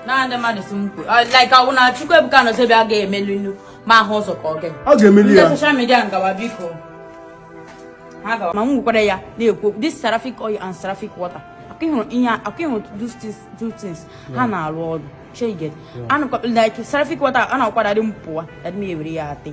na ndị mmadụ si m kwe like ọwụ na Chukwuebuka Anozie Obi agaghị emelinụ m ahụ ụzọ ka ọ gị ọ ga-emeli ya ndị soshal midia ngawa biko ma m nwekwara ya na-ekwu this seraphic oil and seraphic water a ka ị hụrụ ihe a ka ị hụrụ two things a na-arụ ọrụ cheget anụkwa like seraphic water a na-akwara dị m pụwa adị m ewere ya atị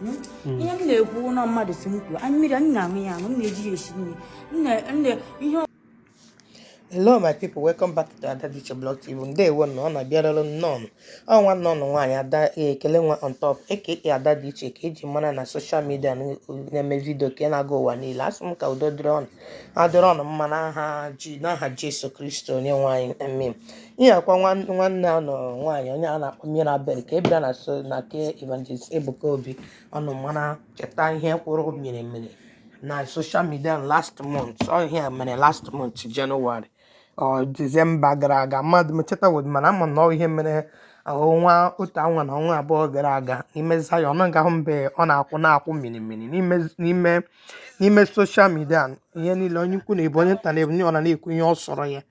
hmm? ihe m na-ekwu ụlọ mmadụ si m kwuo anyị mmiri m na-aṅụ ya aṅụ m na-eji ya esi nri ihe hello my people welcome back to ada diche blog tv ndewo nụ ọnụ abịarala nnọọ nụ ọ nwanne ọnụ nwaanyị ada e, ekele nwa on top aka ada dị iche ka eji mara na soshal midia na-eme vidio ke na-aga ụwa niile asị m ka udo dịrị ọnụ ya dịrị ọnụ mma n'aha ji n'aha jesu kristi onye nwe anyị amen ihe a kwa nwan- nwanne ọnụ nwaanyị onye a na-akpọ mirabel ke bịara na Zion na ke evangelist ebuka obi ọnụ ma na-echeta ihe kwụrụ mmiri mmiri na soshal midia last month ọ ihe a mere last month jenụwarị ọ Disemba gara aga amadị m echetaghịdị mana ama m na ọ ihe mere ọnwa otu ọnwa na ọnwa abụọ gara aga n'ime Zayọn nọ nga ahụ mbe ọ na-akwụ na-akwụ mini mini n'ime n'ime n'ime soshal midia ihe niile onye ukwu na-ebe onye nta na-ebe ọ na na-ekwu ihe ọ sọrọ ya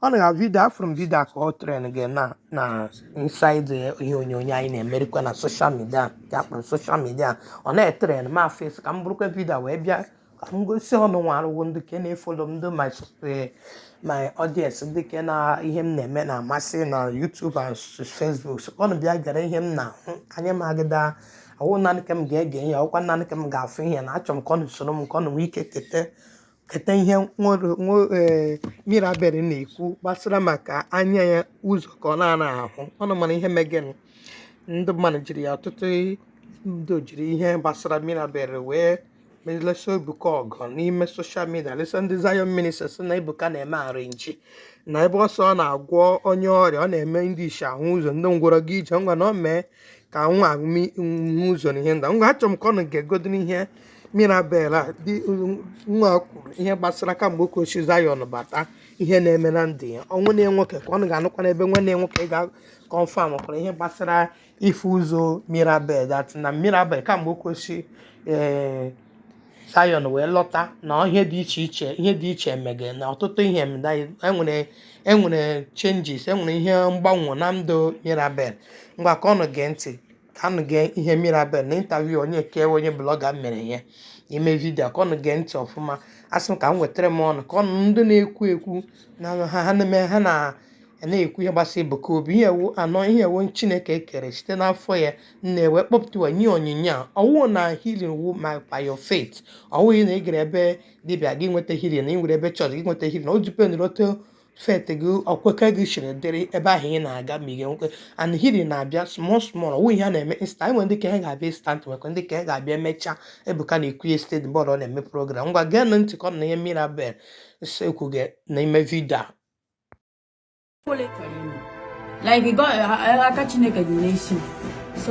ọ na vidio afụrụ m vidio ka ọ tren gị na na insaid ihe onyonyo anyị na-emerikwa na soshal midia ka akpọrọ soshal midia ọ na-etren m afụ sị ka m burukwa vidio wee bịa ka m gosi ọnụ nwa arụwo ndị ke na-efolo m ndị my sus- eh, my audience ndị ke na ihe m na-eme na-amasị na YouTube and s- Facebook so ọnụ bịa gere ihe m na-ahụ anya m agaghị awụ naanị ka m ga-ege ihe ọkwa naanị ka m ga-afụ ihe na achọrọ m ka ọnụ soro m ka ọnụ nwee ike kete keta ihe nwere- nwe- eh, mirabel na-ekwu gbasara maka anya ya ụzọ ka ọ na-ana ahụ ọnụ ma na ihe megịnụ ndị mmadụ jiri ya ọtụtụ ndị jiri ihe gbasara mirabel wee na-alụsi ebuka ọgụ n'ime soshal midia lụsa ndị Zion ministry si na ebuka na-eme arrangee na ebe ọ sị ọ na-agwọ onye ọrịa ọ na-eme ndị isi ahụ ụzọ ndị ngwọrọ aga ije ngwa na ọ mee ka nwa a hụ ụzọ na ihe nda ngwa achọrọ m ka ọnụ gegodo ihe mirabel a dị nwa kwuru ihe gbasara kamgbe o ke si Zion bata ihe na-eme na ndụ ya nwanne nwoke ka ọnụ ga-anụkwa n'ebe nwanne ya nwoke ga-akọnfam kwara ihe gbasara ịfụ ụzọ mirabel that na mirabel kamgbe o ke si ee Zion wee lọta na ihe dị iche iche ihe dị iche emege na ọtụtụ ihe emela enwere enwere changes enwere ihe mgbanwe na ndụ mirabel ngwa ka ọnụ gee ntị ka ọnụ gee ihe mirabel na interview onye ke onye blọga mere ya ime vidio ka ọnụ gee ntị ọfụma asị m ka m wetara m ọnụ ka ọnụ ndị na-ekwu ekwu na ha ha na-eme ha na a na-ekwu ihe gbasara Ebuka Obi ihe ewu anọ ihe ewu Chineke kere site n'afọ ya nne wee kpọpụtawa nye onyinye a ọwụ na healing wụ ma by your faith ọwụghị na ị gara ebe dibịa gị nweta healing na ị nwere ebe chọọchị gị nweta healing o dependịrị otu faith gị okwukwe gị siri dịrị ebe ahụ ị na-aga ma ị ga-enwekwe and healing na-abịa small small ọwụ ihe a na-eme instant e nwere ndị nke ha ga-abịa instant nwekwaa ndị nke ha ga-abịa emechaa Ebuka na-ekwu ya site mgbe ọ na-eme program ngwa geenụ ntị ka a nụ ihe Mirabel na-ekwu gị n'ime vidio a like aka chineke dị n'isi